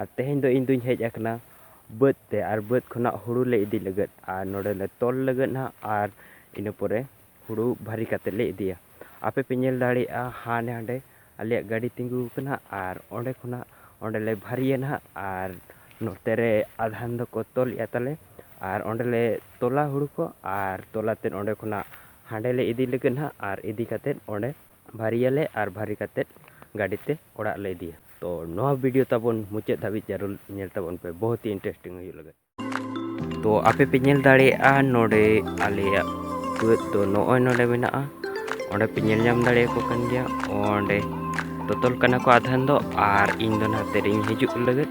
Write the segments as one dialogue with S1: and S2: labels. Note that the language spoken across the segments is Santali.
S1: ᱟᱨ ᱛᱮᱦᱮᱧ ᱫᱚ ᱤᱧ ᱫᱚᱧ ᱦᱮᱡ ᱟᱠᱟᱱᱟ ᱵᱟᱹᱫᱽ ᱛᱮ ᱟᱨ ᱵᱟᱹᱫᱽ ᱠᱷᱚᱱᱟᱜ ᱦᱩᱲᱩ ᱞᱮ ᱤᱫᱤ ᱞᱟᱹᱜᱤᱫ ᱟᱨ ᱱᱚᱰᱮ ᱞᱮ ᱛᱚᱞ ᱞᱟᱹᱜᱤᱫ ᱱᱟᱦᱟᱜ ᱟᱨ ᱤᱱᱟᱹ ᱯᱚᱨᱮ ᱦᱩᱲᱩ ᱵᱷᱟᱹᱨᱤ ᱠᱟᱛᱮᱫ ᱞᱮ ᱤᱫᱤᱭᱟ ᱟᱯᱮ ᱯᱮ ᱧᱮᱞ ᱫᱟᱲᱮᱭᱟᱜᱼᱟ ᱦᱟᱸᱰᱮ ᱦᱟᱸᱰᱮ ᱟᱞᱮᱭᱟᱜ ᱜᱟᱹᱰᱤ ᱛᱤᱸᱜᱩ ᱟᱠᱟᱱᱟ ᱟᱨ ᱚᱸᱰᱮ ᱠᱷᱚᱱᱟᱜ ᱚᱸᱰᱮ ᱞᱮ ᱵᱷᱟᱹᱨᱤᱭᱟ ᱱᱟᱦᱟᱜ ᱟᱨ ᱱᱚᱛᱮ ᱨᱮ ᱟᱫᱷᱟᱱ ᱫᱚᱠᱚ ᱛᱚᱞᱮᱫᱼᱟ ᱛᱟᱞᱮ ᱟᱨ ᱚᱸᱰᱮ ᱞᱮ ᱛᱚᱞᱟ ᱦᱩᱲᱩ ᱠᱚ ᱟᱨ ᱛᱚᱞ ᱠᱟᱛᱮᱫ ᱚᱸᱰᱮ ᱠᱷᱚᱱᱟᱜ ᱦᱟᱸᱰᱮ ᱞᱮ ᱤᱫᱤ ᱞᱟᱹᱜᱤᱫ ᱱᱟᱦᱟᱜ ᱟᱨ ᱤᱫᱤ ᱠᱟᱛᱮᱫ ᱚᱸᱰᱮ ᱵᱷᱟᱹᱨᱤᱭᱟᱞᱮ ᱟᱨ ᱵᱷᱟᱹᱨᱤ ᱠᱟᱛᱮᱫ ᱜᱟᱹᱰᱤ ᱛᱮ ᱚᱲᱟᱜ ᱞᱮ ᱤᱫᱤᱭᱟ ᱛᱚ ᱱᱚᱣᱟ ᱵᱷᱤᱰᱤᱭᱳ ᱛᱟᱵᱚᱱ ᱢᱩᱪᱟᱹᱫ ᱫᱷᱟᱹᱵᱤᱡ ᱡᱟᱹᱨᱩᱲ ᱧᱮᱞ ᱛᱟᱵᱚᱱ ᱯᱮ ᱵᱚᱦᱩᱛ ᱦᱤ ᱤᱱᱴᱟᱨᱮᱥᱴᱤᱝ ᱦᱩᱭᱩᱜ ᱞᱟᱹᱜᱤᱫ ᱛᱚ ᱟᱯᱮ ᱯᱮ ᱧᱮᱞ ᱫᱟᱲᱮᱭᱟᱜᱼᱟ ᱱᱚᱰᱮ ᱟᱞᱮᱭᱟᱜ ᱵᱟᱹᱫᱽ ᱫᱚ ᱱᱚᱜᱼᱚᱭ ᱱᱚᱰᱮ ᱢᱮᱱᱟᱜᱼᱟ ᱚᱸᱰᱮ ᱯᱮ ᱧᱮᱞ ᱧᱟᱢ ᱫᱟᱲᱮᱭᱟᱠᱚ ᱠᱟᱱ ᱜᱮᱭᱟ ᱚᱸᱰᱮ ᱛᱚᱛᱚᱞ ᱠᱟᱱᱟ ᱠᱚ ᱟᱫᱷᱮᱱ ᱫᱚ ᱟᱨ ᱤᱧ ᱫᱚ ᱱᱟᱛᱮ ᱨᱤᱧ ᱦᱤᱡᱩᱜ ᱞᱟᱹᱜᱤᱫ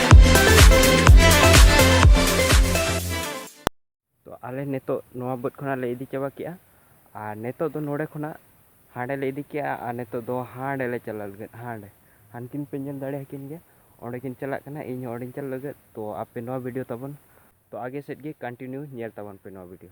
S1: ᱛᱚ ᱟᱞᱮ ᱱᱤᱛᱚᱜ ᱱᱚᱣᱟ ᱵᱟᱹᱫᱽ ᱠᱷᱚᱱᱟᱜ ᱞᱮ ᱤᱫᱤ ᱪᱟᱵᱟ ᱠᱮᱜᱼᱟ ᱟᱨ ᱱᱤᱛᱚᱜ ᱫᱚ ᱱᱚᱰᱮ ᱠᱷᱚᱱᱟᱜ ᱦᱟᱸᱰᱮ ᱞᱮ ᱤᱫᱤ ᱠᱮᱜᱼᱟ ᱟᱨ ᱱᱤᱛᱚᱜ ᱫᱚ ᱦᱟᱸᱰᱮ ᱞᱮ ᱪᱟᱞᱟᱜ ᱞᱟᱹᱜᱤᱫ ᱦᱟᱸᱰᱮ ᱦᱟᱱᱠᱤᱱ ᱯᱮ ᱧᱮᱞ ᱫᱟᱲᱮᱭᱟᱠᱤᱱ ᱜᱮᱭᱟ ᱚᱸᱰᱮ ᱠᱤᱱ ᱪᱟᱞᱟᱜ ᱠᱟᱱᱟ ᱤᱧ ᱦᱚᱸ ᱚᱸᱰᱮᱧ ᱪᱟᱞᱟᱜ ᱞᱟᱹᱜᱤᱫ ᱛᱚ ᱟᱯᱮ ᱱᱚᱣᱟ ᱵᱷᱤᱰᱤᱭᱳ ᱛᱟᱵᱚᱱ ᱛᱚ ᱟᱜᱮ ᱥᱮᱫ ᱜᱮ ᱠᱚᱱᱴᱤᱱᱤᱭᱩ ᱧᱮᱞ ᱛᱟᱵᱚᱱ ᱯᱮ ᱱᱚᱣᱟ ᱵᱷᱤᱰᱤᱭᱳ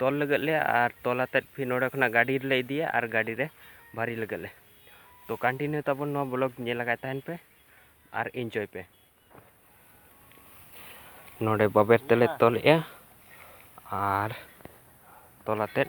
S1: ᱛᱚᱞ ᱞᱟᱹᱜᱤᱫ ᱞᱮ ᱟᱨ ᱛᱚᱞ ᱟᱛᱮᱫ ᱯᱷᱤᱨ ᱱᱚᱰᱮ ᱠᱷᱚᱱᱟᱜ ᱜᱟᱹᱰᱤ ᱨᱮᱞᱮ ᱤᱫᱤᱭᱟ ᱟᱨ ᱜᱟᱹᱰᱤ ᱨᱮ ᱵᱷᱟᱹᱨᱤ ᱞᱟᱹᱜᱤᱫ ᱞᱮ ᱛᱚ ᱠᱚᱱᱴᱤᱱᱤᱭᱩ ᱛᱟᱵᱚᱱ ᱱᱚᱣᱟ ᱵᱞᱚᱜ ᱧᱮᱞ ᱞᱟᱜᱟᱭ ᱛᱟᱦᱮᱱ ᱯᱮ ᱟᱨ ᱤᱱᱡᱚᱭ ᱯᱮ ᱱᱚᱰᱮ ᱵᱟᱵᱮᱨ ᱛᱮᱞᱮ ᱛᱚᱞᱮᱜᱼᱟ ᱟᱨ ᱛᱚᱞ ᱟᱛᱮᱫ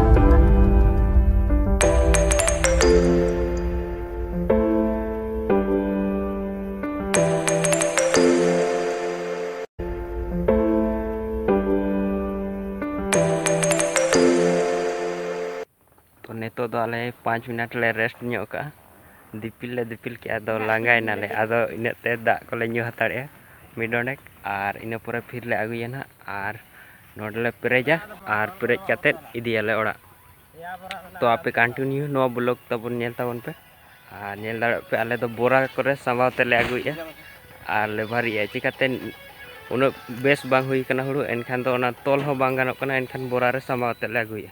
S1: ᱛᱚ ᱱᱤᱛᱚᱜ ᱫᱚ ᱟᱞᱮ ᱯᱟᱸᱪ ᱢᱤᱱᱤᱴ ᱞᱮ ᱨᱮᱥᱴ ᱧᱚᱜ ᱠᱟᱜᱼᱟ ᱫᱤᱯᱤᱞ ᱞᱮ ᱫᱤᱯᱤᱞ ᱠᱮᱜᱼᱟ ᱟᱫᱚ ᱞᱟᱸᱜᱟᱭᱮᱱᱟᱞᱮ ᱟᱫᱚ ᱤᱱᱟᱹᱜ ᱛᱮ ᱫᱟᱜ ᱠᱚᱞᱮ ᱧᱩ ᱦᱟᱛᱟᱲᱮᱜᱼᱟ ᱢᱤᱫ ᱰᱚᱸᱰᱮᱠ ᱟᱨ ᱤᱱᱟᱹ ᱯᱚᱨᱮ ᱯᱷᱤᱨ ᱞᱮ ᱟᱹᱜᱩᱭᱟ ᱱᱟᱦᱟᱜ ᱟᱨ ᱱᱚᱰᱮ ᱞᱮ ᱯᱮᱨᱮᱡᱟ ᱟᱨ ᱯᱮᱨᱮᱡ ᱠᱟᱛᱮ ᱤᱫᱤᱭᱟᱞᱮ ᱚᱲᱟᱜ ᱛᱚ ᱟᱯᱮ ᱠᱚᱱᱴᱤᱱᱤᱭᱩ ᱱᱚᱣᱟ ᱵᱞᱚᱜ ᱛᱟᱵᱚᱱ ᱧᱮᱞ ᱛᱟᱵᱚᱱ ᱯᱮ ᱟᱨ ᱧᱮᱞ ᱫᱟᱲᱮᱭᱟᱜ ᱯᱮ ᱟᱞᱮ ᱫᱚ ᱵᱚᱨᱟ ᱠᱚᱨᱮ ᱥᱟᱢᱵᱟᱣ ᱛᱮᱞᱮ ᱟᱹᱜᱩᱭᱮᱫᱼᱟ ᱟᱨ ᱞᱮ ᱵᱷᱟᱨᱤᱭᱮᱫᱼᱟ ᱪᱤᱠᱟᱛᱮ ᱩᱱᱟᱹᱜ ᱵᱮᱥ ᱵᱟᱝ ᱦᱩᱭ ᱠᱟᱱᱟ ᱦᱩᱲᱩ ᱮᱱᱠᱷᱟᱱ ᱫᱚ ᱚᱱᱟ ᱛᱚᱞ ᱦᱚᱸ ᱵᱟᱝ ᱜᱟᱱᱚᱜ ᱠᱟᱱᱟ ᱮᱱᱠᱷᱟᱱ ᱵᱚᱨᱟ ᱨᱮ ᱥᱟᱢᱵᱟᱣ ᱛᱮᱞᱮ ᱟᱹᱜᱩᱭᱮᱫᱼᱟ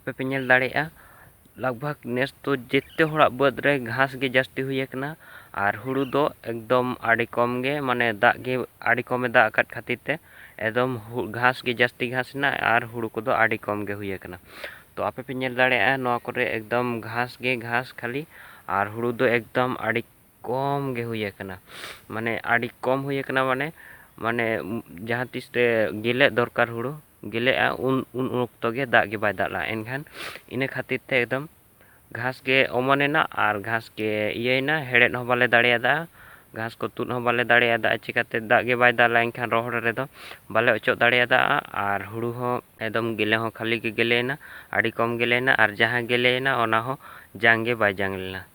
S1: ᱟᱯᱮ ᱯᱮ ᱧᱮᱞ ᱫᱟᱲᱮᱭᱟᱜᱼᱟ ᱞᱟᱜᱽ ᱵᱷᱟᱜᱽ ᱱᱮᱥ ᱫᱚ ᱡᱮᱛᱮ ᱦᱚᱲᱟᱜ ᱵᱟᱹᱫᱽ ᱨᱮ ᱜᱷᱟᱥ ᱜᱮ ᱡᱟᱹᱥᱛᱤ ᱦᱩᱭ ᱟᱠᱟᱱᱟ ᱟᱨ ᱦᱩᱲᱩ ᱫᱚ ᱮᱠᱫᱚᱢ ᱟᱹᱰᱤ ᱠᱚᱢ ᱜᱮ ᱢᱟᱱᱮ ᱫᱟᱜ ᱜᱮ ᱟᱹᱰᱤ ᱠᱚᱢᱮ ᱫᱟᱜ ᱟᱠᱟᱫ ᱠᱷᱟᱹᱛᱤᱨ ᱛᱮ ᱮᱠᱫᱚᱢ ᱜᱷᱟᱥ ᱜᱮ ᱡᱟᱹᱥᱛᱤ ᱜᱷᱟᱥ ᱮᱱᱟ ᱟᱨ ᱦᱩᱲᱩ ᱠᱚᱫᱚ ᱟᱹᱰᱤ ᱠᱚᱢ ᱜᱮ ᱦᱩᱭ ᱟᱠᱟᱱᱟ ᱛᱚ ᱟᱯᱮ ᱯᱮ ᱧᱮᱞ ᱫᱟᱲᱮᱭᱟᱜᱼᱟ ᱱᱚᱣᱟ ᱠᱚᱨᱮ ᱮᱠᱫᱚᱢ ᱜᱷᱟᱥ ᱜᱮ ᱜᱷᱟᱥ ᱠᱷᱟᱹᱞᱤ ᱟᱨ ᱦᱩᱲᱩ ᱫᱚ ᱮᱠᱫᱚᱢ ᱟᱹᱰᱤ ᱠᱚᱢ ᱜᱮ ᱦᱩᱭ ᱟᱠᱟᱱᱟ ᱢᱟᱱᱮ ᱟᱹᱰᱤ ᱠᱚᱢ ᱦᱩᱭ ᱟᱠᱟᱱᱟ ᱢᱟᱱᱮ ᱢᱟᱱᱮ ᱡᱟᱦᱟᱸ ᱛᱤᱥ ᱨᱮ ᱜᱮᱞᱮᱜ ᱫᱚᱨᱠᱟᱨ ᱦᱩᱲᱩ ᱜᱮᱞᱮᱜᱼᱟ ᱩᱱ ᱩᱱ ᱚᱠᱛᱚ ᱜᱮ ᱫᱟᱜ ᱜᱮ ᱵᱟᱭ ᱫᱟᱜ ᱞᱮᱜᱼᱟ ᱮᱱᱠᱷᱟᱱ ᱤᱱᱟᱹ ᱠᱷᱟᱹᱛᱤᱨ ᱛᱮ ᱮᱠᱫᱚᱢ ᱜᱷᱟᱥ ᱜᱮ ᱚᱢᱚᱱ ᱮᱱᱟ ᱟᱨ ᱜᱷᱟᱥ ᱜᱮ ᱤᱭᱟᱹᱭᱮᱱᱟ ᱦᱮᱲᱦᱮᱫ ᱦᱚᱸ ᱵᱟᱞᱮ ᱫᱟᱲᱮᱭᱟᱫᱟ ᱜᱷᱟᱥ ᱠᱚ ᱛᱩᱫ ᱦᱚᱸ ᱵᱟᱞᱮ ᱫᱟᱲᱮᱭᱟᱫᱟ ᱪᱤᱠᱟᱹᱛᱮ ᱫᱟᱜ ᱜᱮ ᱵᱟᱭ ᱫᱟᱜ ᱞᱮᱜᱼᱟ ᱮᱱᱠᱷᱟᱱ ᱨᱚᱦᱚᱲ ᱨᱮᱫᱚ ᱵᱟᱞᱮ ᱚᱪᱚᱜ ᱫᱟᱲᱮᱭᱟᱫᱟ ᱟᱨ ᱦᱩᱲᱩ ᱦᱚᱸ ᱮᱠᱫᱚᱢ ᱜᱮᱞᱮ ᱦᱚᱸ ᱠᱷᱟᱹᱞᱤ ᱜᱮ ᱜᱮᱞᱮᱭᱮᱱᱟ ᱟᱹᱰᱤ ᱠᱚᱢ ᱜᱮᱞᱮᱭᱮᱱᱟ ᱟᱨ ᱡᱟᱦᱟᱸ ᱜᱮᱞᱮᱭᱮᱱᱟ ᱚᱱᱟ ᱦᱚᱸ ᱡᱟᱝ ᱜᱮ ᱵᱟᱭ ᱡᱟᱝ ᱞᱮᱱᱟ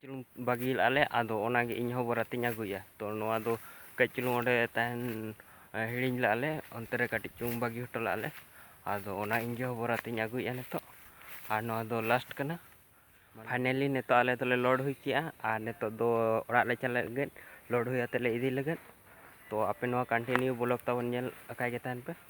S1: ᱪᱩᱞᱩᱝ ᱵᱟᱹᱜᱤ ᱞᱟᱜᱼᱟ ᱞᱮ ᱟᱫᱚ ᱚᱱᱟᱜᱮ ᱤᱧ ᱦᱚᱸ ᱵᱚᱨᱟᱛᱤᱧ ᱟᱹᱜᱩᱭᱟ ᱛᱚ ᱱᱚᱣᱟ ᱫᱚ ᱠᱟᱹᱡ ᱪᱩᱞᱩᱝ ᱚᱸᱰᱮ ᱛᱟᱦᱮᱱ ᱦᱤᱲᱤᱧ ᱞᱟᱜᱼᱟ ᱞᱮ ᱚᱱᱛᱮ ᱨᱮ ᱠᱟᱹᱴᱤᱡ ᱪᱩᱞᱩᱝ ᱵᱟᱹᱜᱤ ᱦᱚᱴᱚ ᱞᱟᱜᱼᱟ ᱞᱮ ᱟᱫᱚ ᱚᱱᱟ ᱤᱧ ᱜᱮ ᱵᱚᱨᱟᱛᱤᱧ ᱟᱹᱜᱩᱭᱮᱫᱼᱟ ᱱᱤᱛᱚᱜ ᱟᱨ ᱱᱚᱣᱟ ᱫᱚ ᱞᱟᱥᱴ ᱠᱟᱱᱟ ᱯᱷᱟᱭᱱᱮᱞᱤ ᱱᱤᱛᱚᱜ ᱟᱞᱮ ᱫᱚᱞᱮ ᱞᱳᱰ ᱦᱩᱭ ᱠᱮᱜᱼᱟ ᱟᱨ ᱱᱤᱛᱚᱜ ᱫᱚ ᱚᱲᱟᱜ ᱞᱮ ᱪᱟᱞᱟᱜ ᱞᱟᱹᱜᱤᱫ ᱞᱳᱰ ᱦᱩᱭ ᱠᱟᱛᱮᱫ ᱞᱮ ᱤᱫᱤ ᱞᱟᱹᱜᱤᱫ ᱛᱚ ᱟᱯᱮ ᱱᱚᱣᱟ ᱠᱚᱱᱴᱤᱱᱤᱭᱩ ᱵᱞᱚᱜᱽ ᱛᱟᱵᱚᱱ ᱧᱮᱞ ᱟᱠᱟᱜᱮ ᱛᱟᱦᱮᱱ ᱯᱮ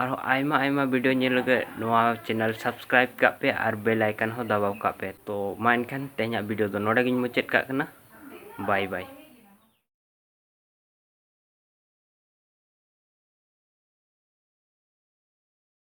S1: ᱟᱨᱦᱚᱸ ᱟᱭᱢᱟ ᱟᱭᱢᱟ ᱵᱷᱤᱰᱤᱭᱳ ᱧᱮᱞ ᱞᱟᱹᱜᱤᱫ ᱱᱚᱣᱟ ᱪᱮᱱᱮᱞ ᱥᱟᱵᱥᱠᱨᱟᱭᱤᱵ ᱠᱟᱜ ᱯᱮ ᱟᱨ ᱵᱮᱞ ᱟᱭᱠᱚᱱ ᱦᱚᱸ ᱫᱟᱵᱟᱣ ᱠᱟᱜ ᱯᱮ ᱛᱚ ᱢᱟ ᱮᱱᱠᱷᱟᱱ ᱛᱮᱦᱮᱧᱟᱜ ᱵᱷᱤᱰᱤᱭᱳ ᱫᱚ ᱱᱚᱰᱮ ᱜᱤᱧ ᱢᱩᱪᱟᱹᱫ ᱠᱟᱜ ᱠᱟᱱᱟ ᱵᱟᱭ ᱵᱟᱭ